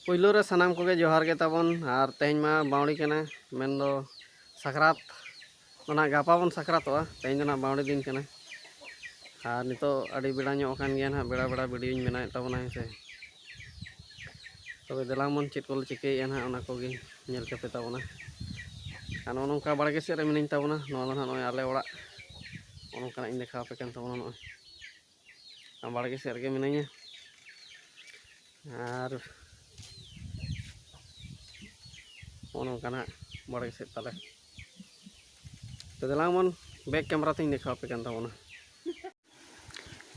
ᱯᱩᱭᱞᱩ ᱨᱮ ᱥᱟᱱᱟᱢ ᱠᱚᱜᱮ ᱡᱚᱦᱟᱨ ᱜᱮ ᱛᱟᱵᱚᱱ ᱟᱨ ᱛᱮᱦᱮᱧ ᱢᱟ ᱵᱟᱣᱲᱤ ᱠᱟᱱᱟ ᱢᱮᱱ ᱫᱚ ᱥᱟᱠᱨᱟᱛ ᱚᱱᱟ ᱜᱟᱯᱟ ᱵᱚᱱ ᱥᱟᱠᱨᱟᱛᱚᱜᱼᱟ ᱛᱮᱦᱮᱧ ᱫᱚ ᱱᱟᱜ ᱵᱟᱣᱲᱤ ᱫᱤᱱ ᱠᱟᱱᱟ ᱟᱨ ᱱᱤᱛᱚᱜ ᱟᱹᱰᱤ ᱵᱮᱲᱟ ᱧᱚᱜ ᱟᱠᱟᱱ ᱜᱮᱭᱟ ᱱᱟᱜ ᱵᱮᱲᱟ ᱵᱮᱲᱟ ᱵᱷᱤᱰᱤᱭᱳᱧ ᱵᱮᱱᱟᱣᱮᱫ ᱛᱟᱵᱚᱱᱟ ᱦᱮᱸ ᱥᱮ ᱛᱚᱵᱮ ᱫᱮᱞᱟᱝ ᱵᱚᱱ ᱪᱮᱫ ᱠᱚᱞᱮ ᱪᱤᱠᱟᱹᱭᱮᱫᱼᱟ ᱱᱟᱜ ᱚᱱᱟ ᱠᱚᱜᱮ ᱧᱮᱞ ᱠᱟᱯᱮ ᱛᱟᱵᱚᱱᱟ ᱟᱨ ᱱᱚᱜᱼᱚ ᱱᱚᱝᱠᱟ ᱵᱟᱲᱜᱮ ᱥᱮᱫ ᱨᱮ ᱢᱤᱱᱟᱹᱧ ᱛᱟᱵᱚᱱᱟ ᱱᱚᱣᱟ ᱫᱚ ᱱᱟᱜ ᱱᱚᱜᱼᱚᱭ ᱟᱞᱮ ᱚᱲᱟᱜ ᱱᱚᱜᱼᱚ ᱱᱚᱝᱠᱟᱱᱟᱜ ᱤᱧ ᱫᱮᱠᱷᱟᱣ ᱟᱯᱮ ᱠᱟᱱ ᱛᱟᱵᱚᱱᱟ ᱱᱚᱜᱼᱚᱭ ᱵᱟᱲᱜᱮ ᱥᱮᱫ ᱨᱮᱜᱮ ᱢᱤᱱᱟᱹᱧᱟ ᱟᱨ ᱱᱚᱜᱼᱚ ᱱᱚᱝᱠᱟᱱᱟᱜ ᱵᱟᱲᱜᱮ ᱥᱮᱫ ᱛᱟᱞᱮ ᱛᱚ ᱫᱮᱞᱟᱝ ᱵᱚᱱ ᱵᱮᱠ ᱠᱮᱢᱮᱨᱟ ᱛᱤᱧ ᱫᱮᱠᱷᱟᱣ ᱟᱯᱮ ᱠᱟᱱ ᱛᱟᱵᱚᱱᱟ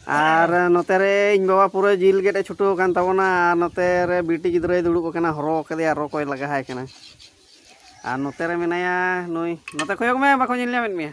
ᱟᱨ ᱱᱚᱛᱮ ᱨᱮ ᱤᱧ ᱵᱟᱵᱟ ᱯᱩᱨᱟᱹ ᱡᱤᱞ ᱜᱮᱫ ᱮ ᱪᱷᱩᱴᱟᱹᱣ ᱟᱠᱟᱱ ᱛᱟᱵᱚᱱᱟ ᱟᱨ ᱱᱚᱛᱮ ᱨᱮ ᱵᱤᱴᱤ ᱜᱤᱫᱽᱨᱟᱹᱭ ᱫᱩᱲᱩᱵ ᱟᱠᱟᱱᱟ ᱦᱚᱨᱚ ᱠᱟᱫᱮᱭᱟ ᱨᱚ ᱠᱚᱭ ᱞᱟᱜᱟᱣᱟᱭ ᱠᱟᱱᱟ ᱟᱨ ᱱᱚᱛᱮ ᱨᱮ ᱢᱮᱱᱟᱭᱟ ᱱᱩᱭ ᱱᱚᱛᱮ ᱠᱚᱭᱚᱜ ᱢᱮ ᱵᱟᱠᱚ ᱧᱮᱞ ᱧᱟᱢᱮᱫ ᱢᱮᱭᱟ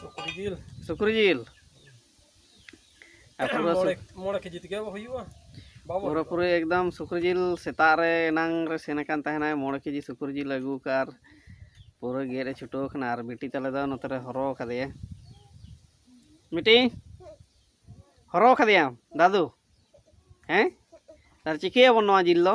ᱥᱩᱠᱨᱤ ᱡᱤᱞ ᱥᱩᱠᱨᱤ ᱡᱤᱞ ᱢᱚᱬᱮ ᱠᱮᱡᱤ ᱛᱮᱜᱮ ᱦᱩᱭᱩᱜᱼᱟ ᱯᱩᱨᱟᱹ ᱯᱩᱨᱤ ᱮᱠᱫᱚᱢ ᱥᱩᱠᱨᱤ ᱡᱤᱞ ᱥᱮᱛᱟᱜ ᱨᱮ ᱮᱱᱟᱝ ᱨᱮ ᱥᱮᱱ ᱟᱠᱟᱱ ᱛᱟᱦᱮᱱᱟᱭ ᱢᱚᱬᱮ ᱠᱮᱡᱤ ᱥᱩᱠᱨᱤ ᱡᱤᱞ ᱟᱹᱜᱩ ᱠᱟᱜ ᱟᱨ ᱯᱩᱨᱟᱹ ᱜᱮᱫ ᱮ ᱪᱷᱩᱴᱟᱹᱣ ᱟᱠᱟᱱᱟ ᱟᱨ ᱵᱤᱴᱤ ᱛᱟᱞᱮ ᱫᱚ ᱱᱚᱛᱮ ᱨᱮ ᱦᱚᱨᱚ ᱠᱟᱫᱮᱭᱟ ᱵᱤᱴᱤ ᱦᱚᱨᱚ ᱠᱟᱫᱮᱭᱟᱢ ᱫᱟᱫᱩ ᱦᱮᱸ ᱟᱨ ᱪᱤᱠᱟᱹᱭᱟᱵᱚᱱ ᱱᱚᱣᱟ ᱡᱤᱞ ᱫᱚ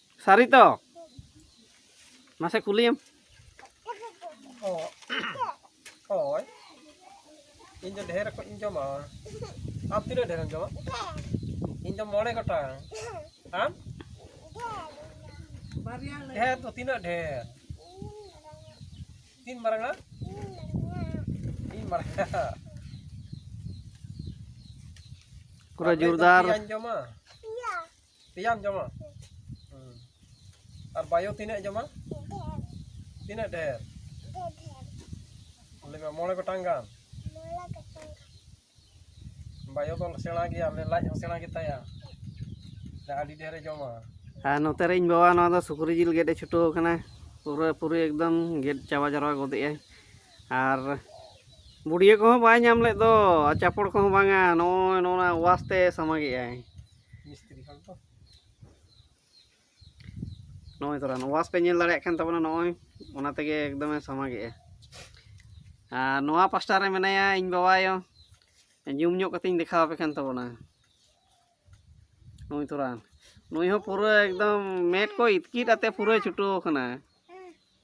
ᱥᱟᱹᱨᱤ ᱛᱚ ᱢᱟᱥᱮ ᱠᱩᱞᱤᱭᱮᱢ ᱦᱳᱭ ᱤᱧ ᱫᱚ ᱰᱷᱮᱨ ᱠᱚᱧ ᱡᱚᱢᱟ ᱟᱢ ᱛᱤᱱᱟᱹᱜ ᱰᱷᱮᱨᱮᱢ ᱡᱚᱢᱟ ᱤᱧ ᱫᱚ ᱢᱚᱬᱮ ᱜᱚᱴᱟᱝ ᱟᱢ ᱰᱷᱮᱨ ᱫᱚ ᱛᱤᱱᱟᱹᱜ ᱰᱷᱮᱨ ᱛᱤᱱ ᱢᱟᱨᱟᱝᱟ ᱤᱧ ᱢᱟᱨᱟᱝᱟ ᱯᱩᱨᱟᱹ ᱡᱳᱨᱫᱟᱨ ᱡᱚᱢᱟ ᱯᱮᱭᱟᱢ ᱡᱚᱢᱟ ᱟᱨ ᱵᱟᱭᱳ ᱛᱤᱱᱟᱹᱜ ᱡᱚᱢᱟ ᱛᱤᱱᱟᱹᱜ ᱰᱷᱮᱨ ᱞᱟᱹᱭ ᱢᱮ ᱢᱚᱬᱮ ᱜᱚᱴᱟᱝ ᱜᱟᱱ ᱵᱟᱭᱳ ᱫᱚ ᱥᱮᱬᱟ ᱜᱮᱭᱟ ᱞᱟᱡ ᱦᱚᱸ ᱥᱮᱬᱟ ᱜᱮᱛᱟᱭᱟ ᱟᱹᱰᱤ ᱰᱷᱮᱨᱮ ᱡᱚᱢᱟ ᱟᱨ ᱱᱚᱛᱮ ᱨᱮ ᱤᱧ ᱵᱟᱵᱟ ᱱᱚᱣᱟ ᱫᱚ ᱥᱩᱠᱨᱤ ᱡᱤᱞ ᱜᱮᱫ ᱮ ᱪᱷᱩᱴᱟᱹᱣ ᱟᱠᱟᱱᱟ ᱯᱩᱨᱟᱹ ᱯᱩᱨᱤ ᱮᱠᱫᱚᱢ ᱜᱮᱫ ᱪᱟᱵᱟ ᱡᱟᱨᱣᱟ ᱜᱚᱫᱮᱜᱼᱟᱭ ᱟᱨ ᱵᱩᱰᱭᱟᱹ ᱠᱚᱦᱚᱸ ᱵᱟᱭ ᱧᱟᱢ ᱞᱮᱫ ᱫᱚ ᱪᱟᱯᱚᱲ ᱠᱚᱦᱚᱸ ᱵᱟᱝᱟ ᱱᱚᱜᱼᱚᱭ ᱱᱚᱣᱟ ᱚᱣᱟᱥ ᱛᱮ ᱥᱟᱢᱟᱜᱮᱜᱼᱟᱭ ᱢᱤᱥᱛᱨᱤ ᱦᱚᱲ ᱫᱚ ᱱᱚᱜᱼᱚᱭ ᱛᱚᱨᱟ ᱱᱚᱣᱟᱥ ᱯᱮ ᱧᱮᱞ ᱫᱟᱲᱮᱭᱟᱜ ᱠᱟᱱ ᱛᱟᱵᱚᱱᱟ ᱱᱚᱜᱼᱚᱭ ᱚᱱᱟ ᱛᱮᱜᱮ ᱮᱠᱫᱚᱢᱮ ᱥᱟᱢᱟᱜᱮᱜᱼᱟ ᱟᱨ ᱱᱚᱣᱟ ᱯᱟᱥᱴᱟ ᱨᱮ ᱢᱮᱱᱟᱭᱟ ᱤᱧ ᱵᱟᱵᱟᱭᱚ ᱡᱩᱢ ᱧᱚᱜ ᱠᱟᱛᱮᱧ ᱫᱮᱠᱷᱟᱣ ᱟᱯᱮ ᱠᱟᱱ ᱛᱟᱵᱚᱱᱟ ᱱᱩᱭ ᱛᱚᱨᱟ ᱱᱩᱭ ᱦᱚᱸ ᱯᱩᱨᱟᱹ ᱮᱠᱫᱚᱢ ᱢᱮᱫ ᱠᱚ ᱤᱛᱠᱤᱨ ᱟᱛᱮ ᱯᱩᱨᱟᱹ ᱪᱷᱩᱴᱟᱹᱣ ᱟᱠᱟᱱᱟ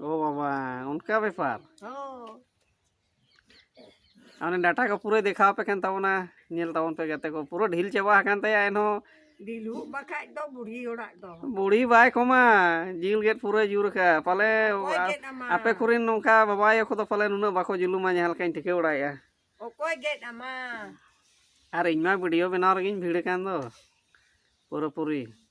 ᱳ ᱵᱟᱵᱟ ᱚᱱᱠᱟ ᱵᱮᱯᱟᱨ ᱚᱱᱮ ᱰᱟᱴᱟ ᱠᱚ ᱯᱩᱨᱟᱹ ᱫᱮᱠᱷᱟᱣ ᱯᱮ ᱠᱟᱱ ᱛᱟᱵᱚᱱᱟ ᱧᱮᱞ ᱛᱟᱵᱚᱱ ᱯᱮ ᱜᱟᱛᱮ ᱠᱚ ᱯᱩᱨᱟᱹ ᱰᱷᱤᱞ ᱪᱟᱵᱟ ᱟᱠᱟᱱ ᱛᱟᱭᱟ ᱮᱱᱦᱚᱸ ᱰᱤᱞᱩᱜ ᱵᱟᱠᱷᱟᱡ ᱫᱚ ᱵᱩᱲᱦᱤ ᱚᱲᱟᱜ ᱫᱚ ᱵᱩᱲᱦᱤ ᱵᱟᱭ ᱠᱚᱢᱟ ᱡᱤᱞ ᱜᱮᱫ ᱯᱩᱨᱟᱹ ᱡᱩᱨ ᱠᱟ ᱯᱟᱞᱮ ᱟᱯᱮ ᱠᱚᱨᱮᱱ ᱱᱚᱝᱠᱟ ᱵᱟᱵᱟ ᱟᱭᱳ ᱠᱚᱫᱚ ᱯᱟᱞᱮ ᱱᱩᱱᱟᱹᱜ ᱵᱟᱠᱚ ᱡᱩᱞᱩᱢᱟ ᱡᱟᱦᱟᱸ ᱞᱮᱠᱟᱧ ᱴᱷᱤᱠᱟᱹ ᱵᱟᱲᱟᱭᱮᱜᱼᱟ ᱚᱠᱚᱭ ᱜᱮᱫ ᱟᱢᱟ ᱟᱨ ᱤᱧ ᱢᱟ ᱵᱷᱤᱰᱤᱭᱳ ᱵᱮᱱᱟᱣ ᱨᱮᱜᱮᱧ ᱵᱷᱤᱲ ᱠᱟᱱ ᱫᱚ ᱯᱩᱨᱟᱹᱯᱩᱨᱤ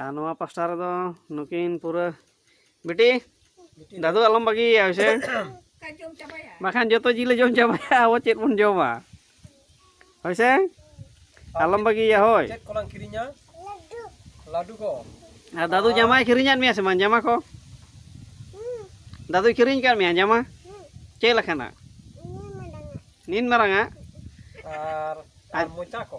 ᱟᱨ ᱱᱚᱣᱟ ᱯᱟᱥᱴᱟ ᱨᱮᱫᱚ ᱱᱩᱠᱤᱱ ᱯᱩᱨᱟᱹ ᱵᱤᱴᱤ ᱫᱟᱫᱩ ᱟᱞᱚᱢ ᱵᱟᱹᱜᱤᱭᱟ ᱦᱮᱸᱥᱮ ᱵᱟᱠᱷᱟᱱ ᱡᱚᱛᱚ ᱡᱤᱞᱮ ᱡᱚᱢ ᱪᱟᱵᱟᱭᱟ ᱟᱵᱚ ᱪᱮᱫ ᱵᱚᱱ ᱡᱚᱢᱟ ᱦᱳᱭᱥᱮ ᱟᱞᱚᱢ ᱵᱟᱹᱜᱤᱭᱟ ᱦᱳᱭ ᱪᱮᱫ ᱠᱚᱞᱟᱝ ᱠᱤᱨᱤᱧᱟ ᱞᱟᱹᱰᱩ ᱠᱚ ᱟᱨ ᱫᱟᱫᱩ ᱡᱟᱢᱟᱭ ᱠᱤᱨᱤᱧᱟᱫ ᱢᱮᱭᱟ ᱥᱮ ᱵᱟᱝ ᱡᱟᱢᱟ ᱠᱚ ᱫᱟᱫᱩᱭ ᱠᱤᱨᱤᱧ ᱟᱠᱟᱫ ᱢᱮᱭᱟ ᱡᱟᱢᱟ ᱪᱮᱫ ᱞᱮᱠᱟᱱᱟᱜ ᱱᱤᱱ ᱢᱟᱨᱟᱝᱟᱜ ᱟᱨ ᱢᱚᱪᱟ ᱠᱚ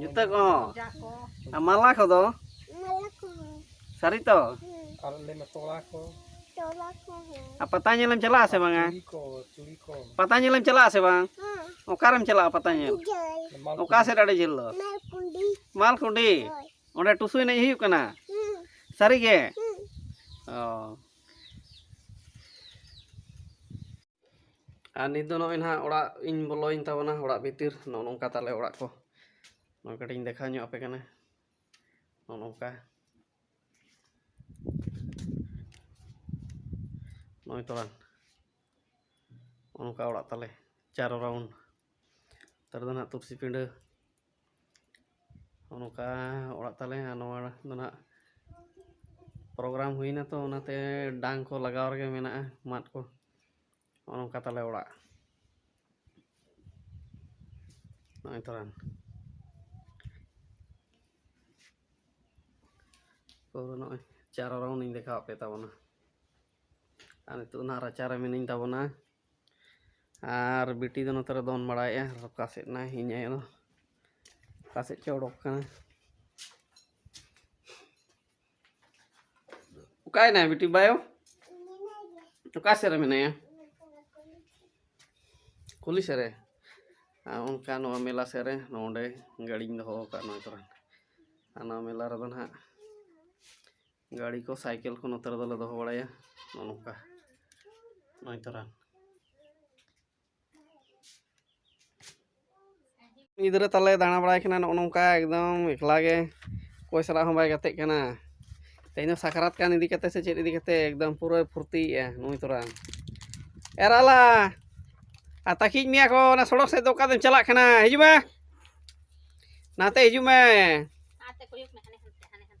ᱡᱩᱛᱟᱹ ᱠᱚᱦᱚᱸ ᱟᱨ ᱢᱟᱞᱟ ᱠᱚᱫᱚ ᱥᱟᱹᱨᱤ ᱛᱚ ᱟᱨ ᱯᱟᱛᱟ ᱧᱮᱞᱮᱢ ᱪᱟᱞᱟᱜᱼᱟ ᱥᱮ ᱵᱟᱝᱟ ᱯᱟᱛᱟ ᱧᱮᱞᱮᱢ ᱪᱟᱞᱟᱜᱼᱟ ᱥᱮ ᱵᱟᱝ ᱚᱠᱟᱨᱮᱢ ᱪᱟᱞᱟᱜᱼᱟ ᱯᱟᱛᱟ ᱧᱮᱞ ᱚᱠᱟ ᱥᱮᱫ ᱟᱹᱰᱤ ᱡᱷᱟᱹᱞ ᱫᱚ ᱢᱟᱞᱠᱩᱰᱤ ᱚᱸᱰᱮ ᱴᱩᱥᱩ ᱮᱱᱮᱡ ᱦᱩᱭᱩᱜ ᱠᱟᱱᱟ ᱥᱟᱹᱨᱤᱜᱮ ᱚ ᱟᱨ ᱱᱤᱛ ᱫᱚ ᱱᱚᱜᱼᱚᱭ ᱱᱟᱦᱟᱜ ᱚᱲᱟᱜ ᱤᱧ ᱵᱚᱞᱚᱭᱮᱱ ᱛᱟᱵᱚᱱᱟ ᱚᱲᱟᱜ ᱵᱷᱤᱛᱤᱨ ᱱᱚᱜᱼᱚ ᱱᱚᱝᱠᱟ ᱛᱟᱞᱮ ᱚᱲᱟᱜ ᱠᱚ ᱱᱚᱣᱟ ᱠᱟᱹᱴᱤᱡ ᱤᱧ ᱫᱮᱠᱷᱟᱣ ᱧᱚᱜ ᱟᱯᱮ ᱠᱟᱱᱟ ᱱᱚᱜᱼᱚ ᱱᱚᱝᱠᱟ ᱱᱚᱜᱼᱚᱭ ᱛᱚᱲᱟᱱ ᱱᱚᱜᱼᱚ ᱱᱚᱝᱠᱟ ᱚᱲᱟᱜ ᱛᱟᱞᱮ ᱪᱟᱨᱚ ᱨᱟᱣᱩᱱᱰ ᱛᱟᱨ ᱫᱚ ᱱᱟᱦᱟᱜ ᱛᱩᱨᱥᱤ ᱯᱤᱸᱰᱟᱹ ᱱᱚᱜᱼᱚ ᱱᱚᱝᱠᱟ ᱚᱲᱟᱜ ᱛᱟᱞᱮ ᱟᱨ ᱱᱚᱣᱟ ᱫᱚ ᱱᱟᱜ ᱯᱨᱳᱜᱨᱟᱢ ᱦᱩᱭᱱᱟ ᱛᱚ ᱚᱱᱟᱛᱮ ᱰᱟᱝ ᱠᱚ ᱞᱟᱜᱟᱣ ᱨᱮᱜᱮ ᱢᱮᱱᱟᱜᱼᱟ ᱢᱟᱫ ᱠᱚ ᱱᱚᱜᱼᱚ ᱱᱚᱝᱠᱟ ᱛᱟᱞᱮ ᱚᱲᱟᱜ ᱱᱚᱜᱼᱚᱭ ᱛᱚᱨᱟᱱ ᱯᱩᱨᱟᱹ ᱱᱚᱜᱼᱚᱭ ᱪᱟᱨᱚ ᱨᱟᱣᱩᱱᱰ ᱤᱧ ᱫᱮᱠᱷᱟᱣᱟᱫ ᱯᱮ ᱛᱟᱵᱚᱱᱟ ᱟᱨ ᱱᱤᱛᱳᱜ ᱱᱟᱜ ᱨᱟᱪᱟ ᱨᱮ ᱢᱤᱱᱟᱹᱧ ᱛᱟᱵᱚᱱᱟ ᱟᱨ ᱵᱤᱴᱤ ᱫᱚ ᱱᱚᱛᱮ ᱨᱮ ᱫᱚᱱ ᱵᱟᱲᱟᱭᱮᱫᱼᱟ ᱟᱨ ᱚᱠᱟ ᱥᱮᱫ ᱱᱟᱭ ᱤᱧ ᱟᱭᱳ ᱫᱚ ᱚᱠᱟ ᱥᱮᱫ ᱪᱚ ᱚᱰᱚᱠ ᱠᱟᱱᱟ ᱚᱠᱟᱭᱮᱱᱟᱭ ᱵᱤᱴᱤ ᱵᱟᱭᱳ ᱚᱠᱟ ᱥᱮᱫ ᱨᱮ ᱢᱮᱱᱟᱭᱟ ᱠᱩᱞᱤ ᱥᱮᱫ ᱨᱮ ᱟᱨ ᱚᱱᱠᱟ ᱱᱚᱣᱟ ᱢᱮᱞᱟ ᱥᱮᱫ ᱨᱮ ᱱᱚᱰᱮ ᱜᱟᱹᱰᱤᱧ ᱫᱚᱦᱚ ᱟᱠᱟᱫ ᱱᱚᱣᱟ ᱠᱚᱨᱮ ᱟᱨ ᱱᱚᱣᱟ ᱢᱮᱞᱟ ᱨᱮᱫᱚ ᱱᱟᱦᱟᱜ ᱜᱟᱹᱲᱤ ᱠᱚ ᱥᱟᱭᱠᱮᱞ ᱠᱚ ᱱᱚᱛᱮ ᱨᱮᱫᱚᱞᱮ ᱫᱚᱦᱚ ᱵᱟᱲᱟᱭᱟ ᱱᱚᱜᱼᱚ ᱱᱚᱝᱠᱟ ᱱᱚᱜᱼᱚᱭ ᱛᱚᱨᱟᱱ ᱜᱤᱫᱽᱨᱟᱹ ᱛᱟᱞᱮ ᱫᱟᱬᱟ ᱵᱟᱲᱟᱭ ᱠᱟᱱᱟ ᱱᱚᱜᱼᱚ ᱱᱚᱝᱠᱟ ᱮᱠᱫᱚᱢ ᱮᱠᱞᱟ ᱜᱮ ᱚᱠᱚᱭ ᱥᱟᱞᱟᱜ ᱦᱚᱸ ᱵᱟᱭ ᱜᱟᱛᱮᱜ ᱠᱟᱱᱟ ᱛᱮᱦᱮᱧ ᱫᱚ ᱥᱟᱠᱨᱟᱛ ᱠᱟᱱ ᱤᱫᱤ ᱠᱟᱛᱮ ᱥᱮ ᱪᱮᱫ ᱤᱫᱤ ᱠᱟᱛᱮ ᱮᱠᱫᱚᱢ ᱯᱩᱨᱟᱹᱭ ᱯᱷᱩᱨᱛᱤᱭᱮᱜᱼᱟ ᱱᱩᱭ ᱛᱚᱨᱟᱱ ᱮᱨᱟᱞᱟ ᱟᱨ ᱛᱟᱹᱠᱤᱡ ᱢᱮᱭᱟ ᱠᱚ ᱚᱱᱟ ᱥᱚᱲᱚᱠ ᱥᱮᱫ ᱫᱚ ᱚᱠᱟ ᱫᱚᱢ ᱪᱟᱞᱟᱜ ᱠᱟᱱᱟ ᱦᱤᱡᱩᱜ ᱢᱮ ᱱᱟᱛᱮ ᱦᱤᱡᱩᱜ ᱢᱮ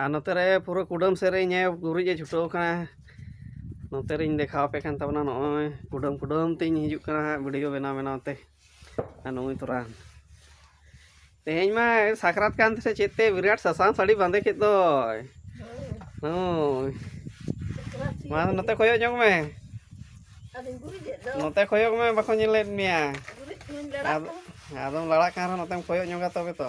ᱟᱨ ᱱᱚᱛᱮ ᱨᱮ ᱯᱩᱨᱟᱹ ᱠᱩᱰᱟᱹᱢ ᱥᱮᱫ ᱨᱮ ᱤᱧᱮ ᱜᱩᱨᱤᱡ ᱮ ᱪᱷᱩᱴᱟᱹᱣ ᱠᱟᱱᱟ ᱱᱚᱛᱮ ᱨᱤᱧ ᱫᱮᱠᱷᱟᱣ ᱟᱯᱮ ᱠᱟᱱ ᱛᱟᱵᱚᱱᱟ ᱱᱚᱜᱼᱚᱭ ᱠᱩᱰᱟᱹᱢ ᱠᱩᱰᱟᱹᱢ ᱛᱤᱧ ᱦᱤᱡᱩᱜ ᱠᱟᱱᱟ ᱦᱟᱸᱜ ᱵᱷᱤᱰᱤᱭᱳ ᱵᱮᱱᱟᱣ ᱵᱮᱱᱟᱣ ᱛᱮ ᱟᱨ ᱱᱩᱭ ᱛᱚᱨᱟ ᱛᱮᱦᱮᱧ ᱢᱟ ᱥᱟᱠᱨᱟᱛ ᱠᱟᱱ ᱛᱮᱥᱮ ᱪᱮᱫ ᱛᱮ ᱵᱤᱨᱟᱴ ᱥᱟᱥᱟᱝ ᱥᱟᱹᱲᱤ ᱵᱟᱸᱫᱮ ᱠᱮᱫ ᱫᱚᱭ ᱦᱳᱭ ᱢᱟ ᱱᱚᱛᱮ ᱠᱚᱭᱚᱜ ᱧᱚᱜ ᱢᱮ ᱱᱚᱛᱮ ᱠᱚᱭᱚᱜ ᱢᱮ ᱵᱟᱠᱚ ᱧᱮᱞᱮᱫ ᱢᱮᱭᱟ ᱟᱫᱚᱢ ᱞᱟᱲᱟᱜ ᱠᱟᱱ ᱨᱮᱦᱚᱸ ᱱᱚᱛᱮᱢ ᱠᱚᱭᱚᱜ ᱧᱚᱜᱟ ᱛᱚᱵᱮ ᱛᱚ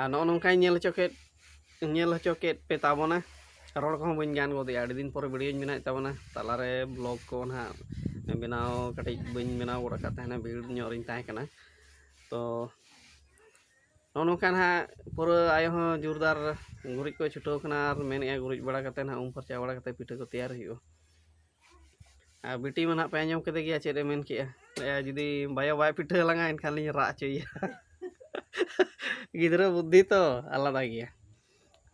ᱟᱨ ᱱᱚᱜᱼᱚ ᱱᱚᱝᱠᱟᱧ ᱧᱮᱞ ᱦᱚᱪᱚ ᱠᱮᱫ ᱧᱮᱞ ᱦᱚᱪᱚ ᱠᱮᱫ ᱯᱮ ᱛᱟᱵᱚᱱᱟ ᱨᱚᱲ ᱠᱚᱦᱚᱸ ᱵᱟᱹᱧ ᱜᱟᱱ ᱜᱚᱫᱮᱜᱼᱟ ᱟᱹᱰᱤ ᱫᱤᱱ ᱯᱚᱨᱮ ᱵᱷᱤᱰᱭᱳᱧ ᱵᱮᱱᱟᱣᱮᱫ ᱛᱟᱵᱚᱱᱟ ᱛᱟᱞᱟᱨᱮ ᱵᱞᱚᱜᱽ ᱠᱚ ᱱᱟᱦᱟᱜ ᱵᱮᱱᱟᱣ ᱠᱟᱹᱴᱤᱡ ᱵᱟᱹᱧ ᱵᱮᱱᱟᱣ ᱜᱚᱫ ᱟᱠᱟᱫ ᱛᱟᱦᱮᱱᱟ ᱵᱷᱤᱲ ᱧᱚᱜ ᱨᱤᱧ ᱛᱟᱦᱮᱸ ᱠᱟᱱᱟ ᱛᱚ ᱱᱚᱜᱼᱚ ᱱᱚᱝᱠᱟ ᱱᱟᱦᱟᱜ ᱯᱩᱨᱟᱹ ᱟᱭᱳ ᱦᱚᱸ ᱡᱳᱨᱫᱟᱨ ᱜᱩᱨᱤᱡ ᱠᱚᱭ ᱪᱷᱩᱴᱟᱹᱣ ᱠᱟᱱᱟ ᱟᱨ ᱢᱮᱱᱮᱫᱼᱟᱭ ᱜᱩᱨᱤᱡ ᱵᱟᱲᱟ ᱠᱟᱛᱮᱫ ᱱᱟᱦᱟᱜ ᱩᱢ ᱯᱷᱟᱨᱪᱟ ᱵᱟᱲᱟ ᱠᱟᱛᱮᱫ ᱯᱤᱴᱷᱟᱹ ᱠᱚ ᱛᱮᱭᱟᱨ ᱦᱩᱭᱩᱜᱼᱟ ᱟᱨ ᱵᱤᱴᱤ ᱢᱟ ᱱᱟᱦᱟᱜ ᱯᱮ ᱟᱸᱡᱚᱢ ᱠᱮᱫᱮ ᱜᱮᱭᱟ ᱪᱮᱫ ᱮ ᱢᱮᱱ ᱠᱮᱜᱼᱟ ᱞᱟᱹᱭᱟ ᱡᱩᱫᱤ ᱵᱟᱭᱳ ᱵᱟᱭ ᱯᱤᱴᱷᱟᱹ ᱟᱞᱟᱝᱟ ᱮᱱᱠᱷᱟᱱ ᱞᱤᱧ ᱨᱟᱜ ᱦᱚᱪᱚᱭᱮᱭᱟ ᱜᱤᱫᱽᱨᱟᱹ ᱵᱩᱫᱽᱫᱷᱤ ᱛᱚ ᱟᱞᱟᱫᱟ ᱜᱮᱭᱟ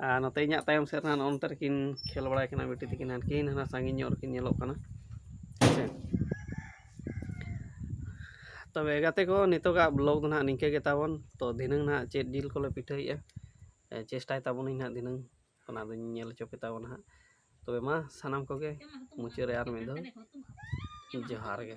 ᱟᱨ ᱱᱚᱛᱮ ᱤᱧᱟᱹᱜ ᱛᱟᱭᱚᱢ ᱥᱮᱫ ᱨᱮ ᱱᱚᱜᱼᱚ ᱱᱚᱛᱮ ᱨᱮᱠᱤᱱ ᱠᱷᱮᱞ ᱵᱟᱲᱟᱭ ᱠᱟᱱᱟ ᱵᱤᱴᱤ ᱛᱟᱹᱠᱤᱱ ᱦᱟᱱᱠᱤᱱ ᱦᱟᱱᱟ ᱥᱟᱺᱜᱤᱧ ᱧᱚᱜ ᱨᱮᱠᱤᱱ ᱧᱮᱞᱚᱜ ᱠᱟᱱᱟ ᱦᱮᱸᱥᱮ ᱛᱚᱵᱮ ᱜᱟᱛᱮ ᱠᱚ ᱱᱤᱛᱚᱜᱟᱜ ᱵᱞᱚᱜ ᱫᱚ ᱱᱟᱦᱟᱜ ᱱᱤᱝᱠᱟᱹ ᱜᱮ ᱛᱟᱵᱚᱱ ᱛᱚ ᱫᱷᱤᱱᱟᱹᱝ ᱱᱟᱦᱟᱜ ᱪᱮᱫ ᱡᱤᱞ ᱠᱚᱞᱮ ᱯᱤᱴᱷᱟᱹᱭᱮᱜᱼᱟ ᱪᱮᱥᱴᱟᱭ ᱛᱟᱵᱚᱱᱟᱹᱧ ᱱᱟᱦᱟᱜ ᱫᱷᱤᱱᱟᱹᱝ ᱚᱱᱟ ᱫᱚᱧ ᱧᱮᱞ ᱦᱚᱪᱚ ᱯᱮ ᱛᱟᱵᱚᱱᱟ ᱦᱟᱸᱜ ᱛᱚᱵᱮ ᱢᱟ ᱥᱟᱱᱟᱢ ᱠᱚᱜᱮ ᱢᱩᱪᱟᱹᱫ ᱨᱮ ᱟᱨ ᱢᱤᱫ ᱫᱷᱟᱣ ᱡᱚᱦᱟᱨ ᱜᱮ